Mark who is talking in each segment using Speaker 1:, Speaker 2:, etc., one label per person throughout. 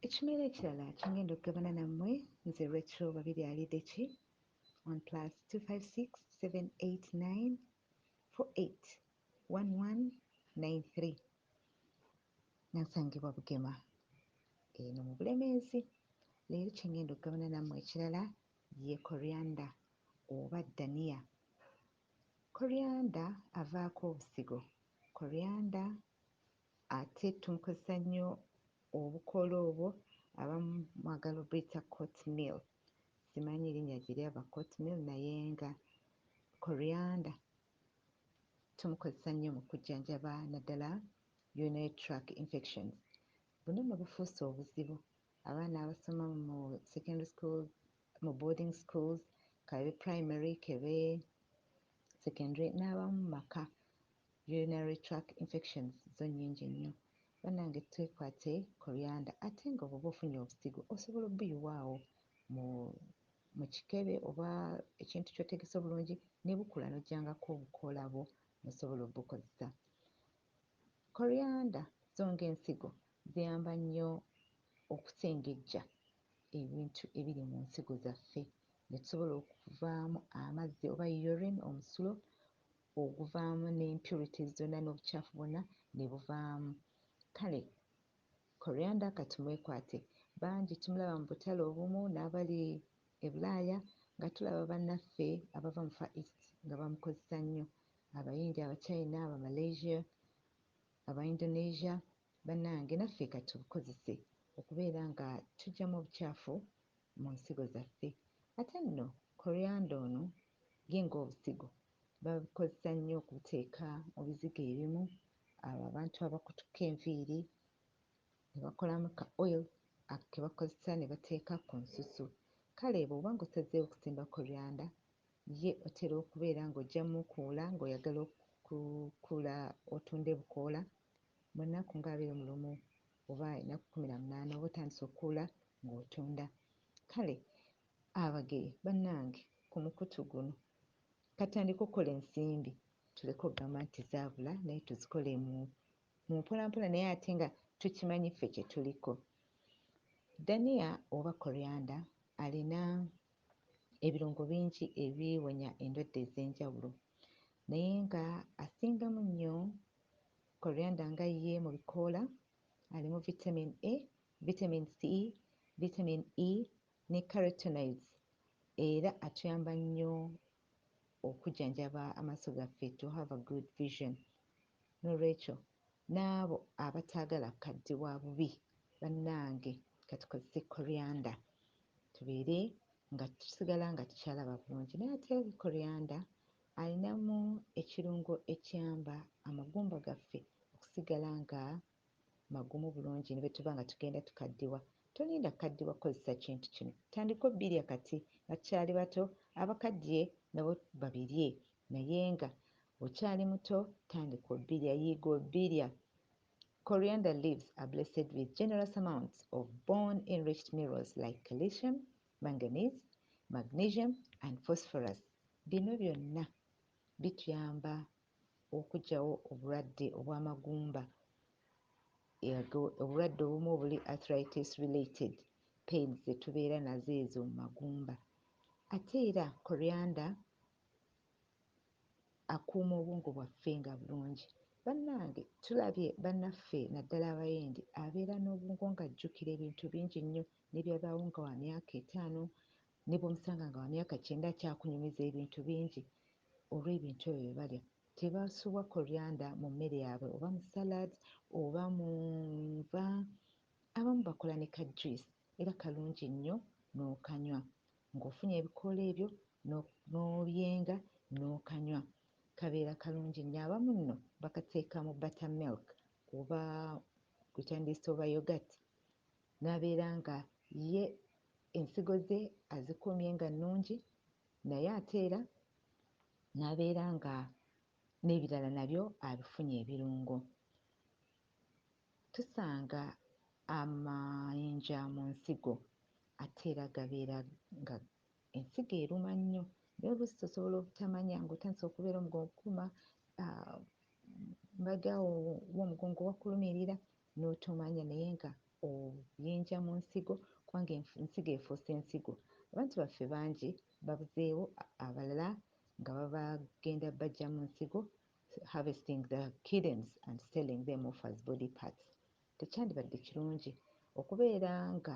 Speaker 1: Ekimera ekirala kyengenda okugabana nammwe nze Retro Babirye Alideki on plus 256789481193 nansangibwa Bugema eno mu Bulemeezi leero kyengenda okugabana nammwe ekirala ye Coriander oba Dania Coriander avaako obusigo Coriander Ate tumukozesa nnyo obukoola obwo abamu mwagala obuyita court meal simanyi linnya gye lyava court meal naye nga coriander tumukozesa nnyo mu kujjanjaba naddala urinary tract infections. Buno nno bufuuse obuzibu abaana abasoma mu secondary schools, mu boarding schools k'ebe primary k'ebe secondary n'abamu mu maka Urinary tract infections zo nyingi nnyo banange twekwate coriander ate nga bwoba ofunye obusigo osobola obuyiwa awo mu mukikebe oba ekintu kyotegese obulungi nebukula nojjangako obukoola bwo nosobola obukozesa. Coriander zo nga ensigo ziyamba nnyo okusengejja ebintu ebiri mu nsigo zaffe netusobola okuvaamu amazzi oba urine omusulo oguvaamu ne impurities zonna n'obucaafu bwonna ne buvaamu. Kale Coriander kati mwekwate. Bangi tumulaba mu butale obumu n'abali e Bulaaya nga tulaba bannaffe abava mu Far East nga bamukozesa nnyo, Abayindi, Abachina, Abamalaysia, Abaindonesia. Bannange naffe ka tubukozese okubeera nga tuggyamu obucaafu mu nsigo zaffe. Ate nno Coriander ono ye ng'obusigo babikozesa nnyo okubiteeka mu bizigo ebimu, abo abantu abakutuka enviiri ne bakolamu ka oil ako ke bakozesa ne bateeka ku nsusu. Kale bw'oba ng'osazeewo okusimba korianda, ye otera okubeera ng'ojja mukuula ng'oyagala okukuula otunde bukoola mu nnaku ng'abiri mu lumu oba ennaku kkumi na munaana oba otandise okukuula ng'otunda. Kale Abageya bannange ku mukutu guno Katandike okukola ensimbi tuleke ogamba nti zabula naye tuzikole mu mumpola mpola naye ate nga tukimanyi ffe kyetuliko. Dania oba coriander alina ebirungo bingi ebiwonya endwadde ezenjawulo naye nga asingamu nnyo coriander nga ye mu bikoola alimu vitamin A, vitamin C, vitamin E, ne carotenoids era atuyamba nnyo okujjanjaba amaaso gaffe to have a good vision n'olwekyo n'abo abataagala kukaddiwa bubi bannange ka tukozese coriander tubeere nga tusigala nga tukyalaba bulungi naye ate coriander alinamu ekirungo ekiyamba amagumba gaffe okusigala nga magumu bulungi ne bwe tuba nga tugenda tukaddiwa. Tolinda kukaddiwa kukozesa kintu kino. Tandika obbirya kati nga tukyali bato, abakaddiye nabo babirye naye nga okyali muto tandika obbirya, yiga obbirya. Coriander leaves are blessed with generous amounts of bone enriched mirrors like calicium, manganese, magnesium and phosphorus. Bino byonna bituyamba okuggyawo obulwadde obw'amagumba obulwadde obumu obuli arthritis related pains ze tubeera nazo ezo mu magumba. Ate era coriander akuuma obwongo bwaffe nga bulungi. Bannange tulabye bannaffe naddala Abayindi abeera n'obwongo ng'ajjukira ebintu bingi nnyo ne byabaawo nga wa myaka etaano Ne bw'omusanga nga wa myaka kyenda akyakunyumiza ebintu bingi olw'ebintu ebyo bye balya. Tebasubwa coriander mu mmere yaabwe oba mu salads oba mu nva. Abamu bakola ne ka juice era kalungi nnyo n'okanywa. Ng'ofunye ebikoola ebyo n'obyenga n'okanywa kabeera kalungi nnyo. Abamu nno bakateeka mu buttermilk oba gwe kyandiyise oba yoghurt n'abeera nga ye ensigo ze azikuumye nga nnungi naye ate era n'abeera nga n'ebirala nabyo abifunye ebirungo. Tusanga amayinja mu nsigo ate era gabeera nga Ensigo eruma nnyo naye oluusi tosobola obutamanya ng'otandise okubeera omugongo okukuma mbagya womugongo wakulumirira n'otomanya naye nga oyinja mu nsigo kubanga ensigo efuuse ensigo. Abantu baffe bangi babuzeewo abalala nga babagenda bajja mu nsigo harvesting the kidneys and selling them off as body parts. Tekyandibadde kirungi okubeera nga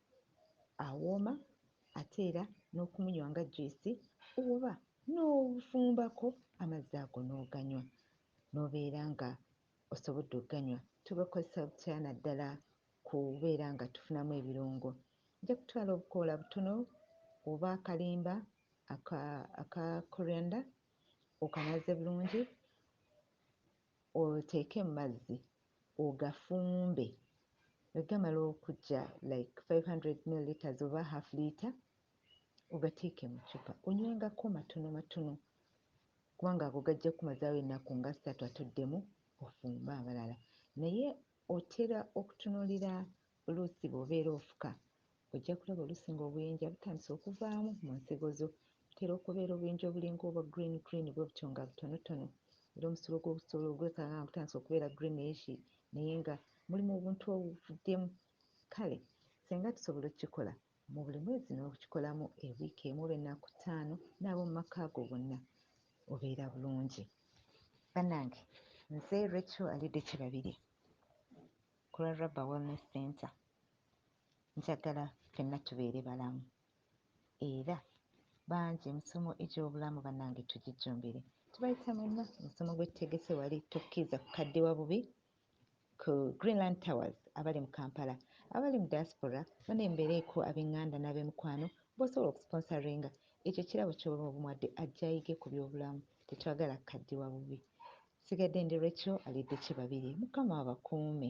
Speaker 1: awooma ate era n'okumunywa nga juyisi oba n'ofumbako amazzi ago n'oganywa n'obeera ng'osobodde okuganywa. Tugakozesa butya naddala ku kubeera nga tufunamu ebirungo? Ojja kutwala obukoola butono oba akalimba aka aka coriander okanaaze bulungi oteeke mu mazzi ogafumbe nga gamala okuggya like five hundred millilitres oba half litre ogateeke mu ccupa onywengako matono matono kubanga ago gajja kukumazaawo ennaku nga ssatu ate oddemu ofumbe amalala naye otera okutunuulira Oluusi bw'obeera ofuka, ojja kulaba oluusi ng'obuyinja butandise okuvaamu mu nsigo zo. Butera okubeera obuyinja obulinga obwa green green bwe butyo nga butonotono era omusulo gwo gusobola ogulekanga nga gutandise okubeera greenish naye nga mulimu obuntu obuvuddemu. Kale ssenga tusobola okukikola mu buli mwezi n'okikolamu e wiiki emu oba ennaku ttaano n'ab'omu maka go bonna obeera bulungi. Bannange nze Recho alidde kye babirye. ku lwa Rubber Wellness Centre njagala ffenna tubeere balamu era bangi emisomo egy'obulamu bannange tugijjumbire. Tubayita mwenna omusomo gwe tutegese wali tokkiriza kukaddiwa bubi ku Greenland Towers abali mu Kampala, abali mu diaspora bane mbeereeko ab'enganda n'abemikwano b'osobola okusponsoringa ekyo kirabo ky'oba omuwadde ajje ayige ku by'obulamu tetwagala kukaddiwa bubi. Nsigadde ndi Recho Aliddeki Babirye Mukama abakuume.